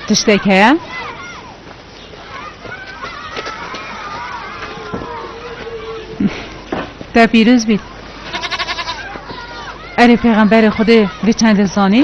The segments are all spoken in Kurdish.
tiştek heye. Te pîroz bît. Erê pêxemberê Xwedê vê çendê zanî.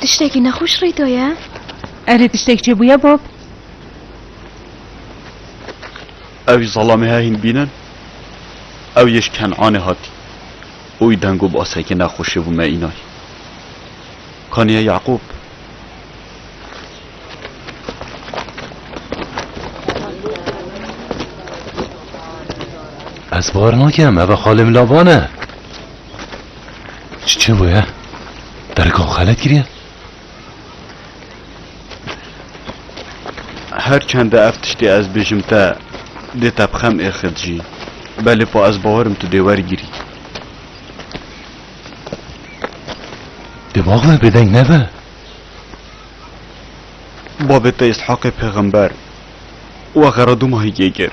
Tiştekî nexweş rê de ye? Erê tiştek çêbûye Bob? Ew ji zalamê he hîn bînin. Ew yê ji Kenanê hatî. Oy deng û basekê nexweşê bû me înan. Kaniye Yaqûb. Ez bar nakim eva xalê min laban e. Çi bûye? Dergam xelet kiriye? Her çende ev tiştê ez bêjim te dê te bixem êxit jî. Belê pa ez bawerim tu dê wergirî. Dê bavê bêdeng nebe. Babê te Îshaqê pêxember û axera du mahî kê kir.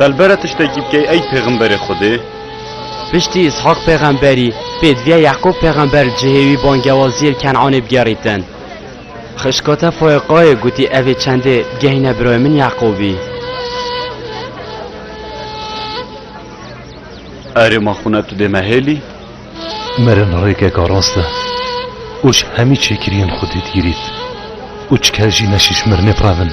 Belbere tiştekî bikey ey pêxemberê Xwedê Piştî Îshak pêxemberî, pêdiviya Yeqûb pêxember li cihê wî bangewaziyê li Ken'anê bi gerîtin. Xişka te foyê qayê gotî evê çendê bigehîne birayê min Yeqûbî. Erê ma xwe ne tu dê me hêlî? Mirin rêkeka rast e û ji hemî çêkiriyên xwedî digirît û çiker jî ne şîş mirinê bi revin.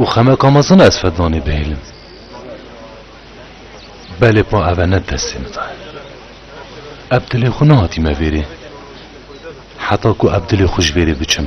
Û xemeka mezin ez Fednanê bihêlim. Belê pa eve ne destê min de. Eb dilê xwe nehatî me vêrê. Heta ku eb dilê xwe ji vêrê biçim.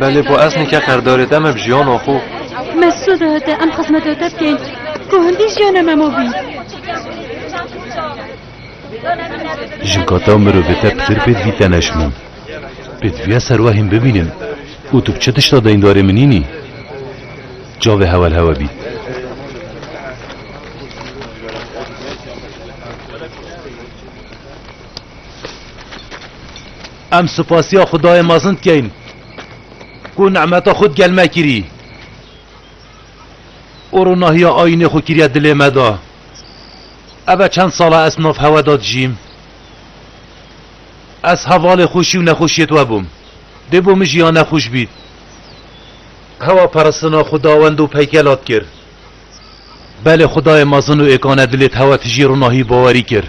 Belê ku ez nîke qerdarê te me bi jiyana xwe. Mesûd e te em xizmeta te bikeyn ku hindî jiyana me ma bî. Jinka te û mirovê te pir pêdivî te neşimin. Pêdiviya serwehên bibînin û tu bi çi tişta deyndarê min nînî? Çavê hewel hewe bît. Em supasiya Xwedayê mezin dikein ku nemeta xwe di gel me kirî û ronahiya ayînê xwe kiriye dilê me de. Ev e çend sal e ez nav hewe de dijîm. Ez hevalê xweşî û nexweşiyê te bûm. Dê bo min jî ya nexweş bît. Hewa paristina Xwedawend û peykelat kir. Belê Xwedayê mezin û êkane dilê te hewe tijî ronahiyî bawerî kir.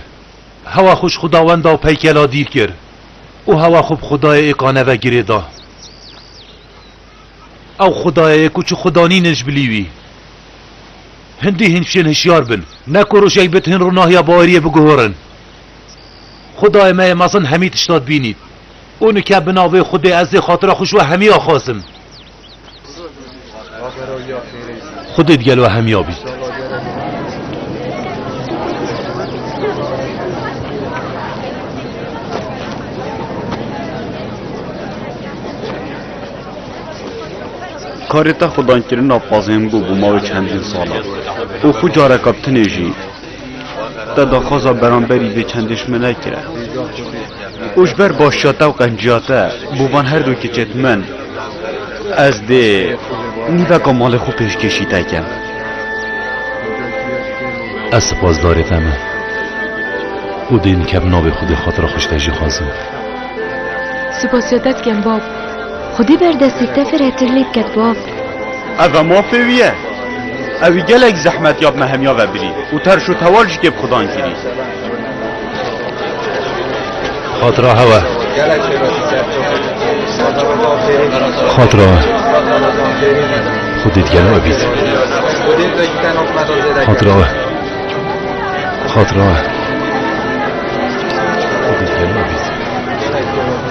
Hewa xwe ji xwedawenda û peykela dîl kir û hewa xwe bi xwedayê yê kaneve girê da. Ew xwedayê ye ku çi xweda nînin ji bilî wî. Hindî hîn fişên hişyar bin, ne ku rojek bit hîn ronahiya baweriyê biguhorin. Xwedayê me yê mezin hemî tişta dibînît û nike bi navê Xwedê ez dê xatira xwe ji we hemî axazim. Xwedê di gel we hemiya bît. Karê te xwedaynkirina pazên bû bû mavê çendîn salan û xwe careka bi tinê jî Te daxwaza beramberî vê çendêşme nekir e. Û ji ber başiya te û qenciya te bo van her du kiçê min ez dê nîveka malê xwe pêşkêşî te kim. Ez sipasdarê te me û dê nikevim navê xwe dê xatira xwişke jî xwazim. Sipasiya te dikim bab. Xwedî berdestî te fir hetir lê biket bab. Eve mafê wî ye. Ewî gelek zehmet ya bi me hemya ve birî û terş û tewal ji kêfxwedan kirî. Xatira hewe. Xatira we. Xwedê digel we bît. Xatira we. Xatira we.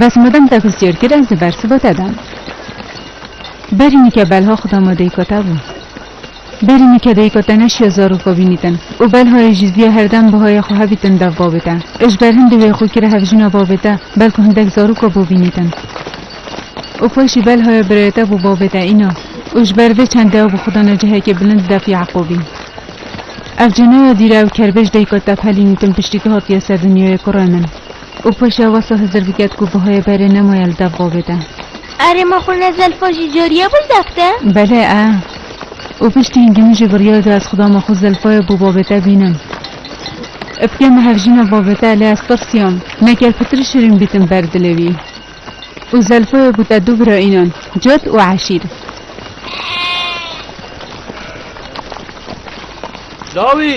Bes mudem te xist cêr kir ez li ber siva te dem. Berî nike belha xuda ma deyika te bû. Berî nike deyika te neşiya zaroka vînîtin û belhayê jî ziya herdem buhayê xwe hevîtin dev bavê te. Ê ji ber hindê wê xwe kire hevjina bavê te belku hindek zaroka bo vînîtin. Û paşî belhaya birayê te bo bavê te îna û ji ber vê çend dew bi xuda ne cihekê bilind def Yaqûbî. Ev cî naya dîre ew kerbêj deyika te pelînîtin piştî tu hatiye ser dinyayê kurê min. Û paşa wesa Hizir biket ku Buhayê berê nemaye li dev bavê de. Erê ma xwe ne Zelfa jî cariye bû li dev te? Belê e. Û piştî hingî min jî biryar da ez xuda ma xwe Zelfayê bo bavê te bînim. Ipke me hevjîna bavê te lê ez tirsiyam neker pitir şirîn bîtim ber dilê wî. Û Zelfayê bû te du bira înan Cad û Eşîr. Dawî!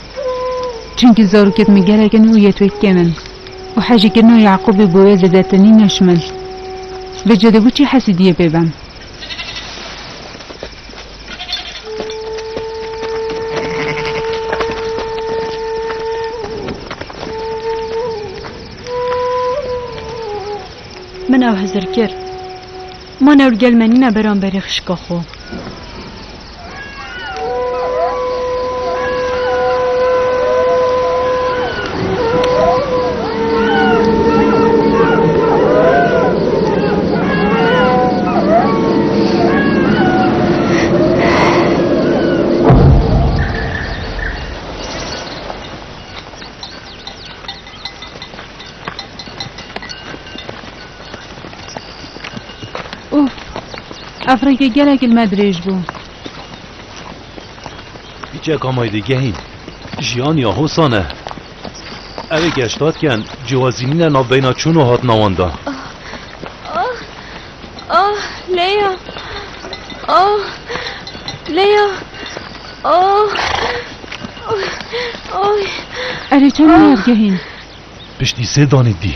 Çimkî zarokên min gelek in û yetwekên in û hejîkirina Yaqûbê bo wê zêdetir nîn ne şimil. Vê cedê ku çi hesî diyê pê ben? Min ew hizir kir. Ma ne û gel menîme beramberê xişka xwe. Uf, ev rêkê gelek li me dirêj bû. Hiçeka me dê gehîn. Jiyan ya hosan e. Ev ê geştatiyan cihazînîne navbeyna çûn û hatina wan da. Ah, ah, Leya. Ah, Leya. Ah, ay. Erê çend nayab gehîn. Piştî sê danê dî.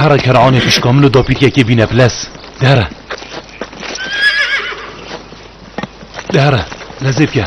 Hera ker'anê xişka min û dapîrkekê bîne bilez. Di here. Di here. Lezê bike.